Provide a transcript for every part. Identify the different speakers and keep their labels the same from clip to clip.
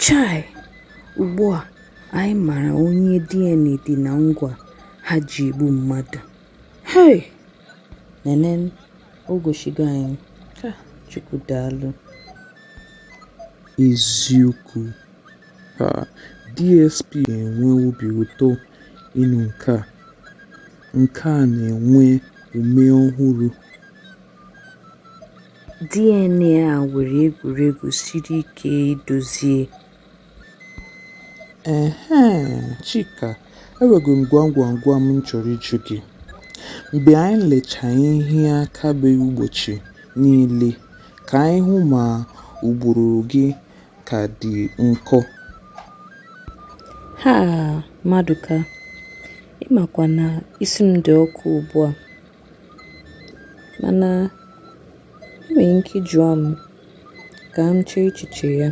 Speaker 1: Chai! Ugbu a anyị mara onye DNA dị na ngwa ha ji egbu mmadụ. Hei! Nene o goshigo anyị. Chukwu daalụ. Eziokwu. ka DSP na-enwe obi ụtọ ịnụ nke a. Nke a na-enwe ume ọhụrụ. DNA a nwere egwuregwu siri ike idozie. Ehe, Chika, enwego m gwam gwam gwam m chọrọ ịjụ gị. Mgbe anyị lecha ihe akaebe ụbọchị niile ka anyị hụ ma ụbụrụ gị ka dị nkọ. Ha! Maduka, ị makwa na isi m dị ọkụ ugbu a. Mana ị nwere ike jụọ m ka m chee echiche ya.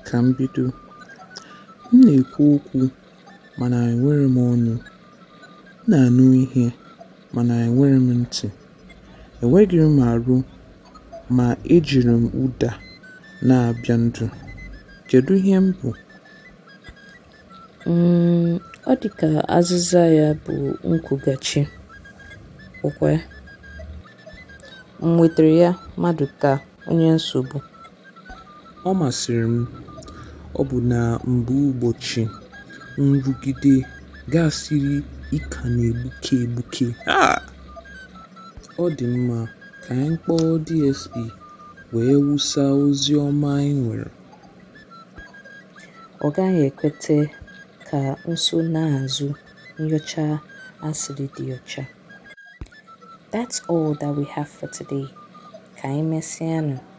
Speaker 1: Ka m bido. M na-ekwu okwu mana enwerọ m ọnụ. M na-anụ ihe mana enwerọ m ntị. Enweghị m arụ Ma ejiri m ụda na-abịa ndụ. Kedu ihe m bụ? Mm, ọ dị ka azịza ya bụ nkwughachi. Ọkwa m nwetara ya, Maduka onye nsogbu. Ọ masịrị m, ọ bụ na mgbe ụbọchị nrụgide gasịrị ị ka na-egbuke egbuke. Ah! Ọ dị mma, ka anyị kpọọ DSP wee wụsa ozi ọma anyị nwere. Ọ gaghị ekweta ka nsonaazụ nyocha a siri dị ọcha. That's all that we have for today. Ka anyị mesịanụ.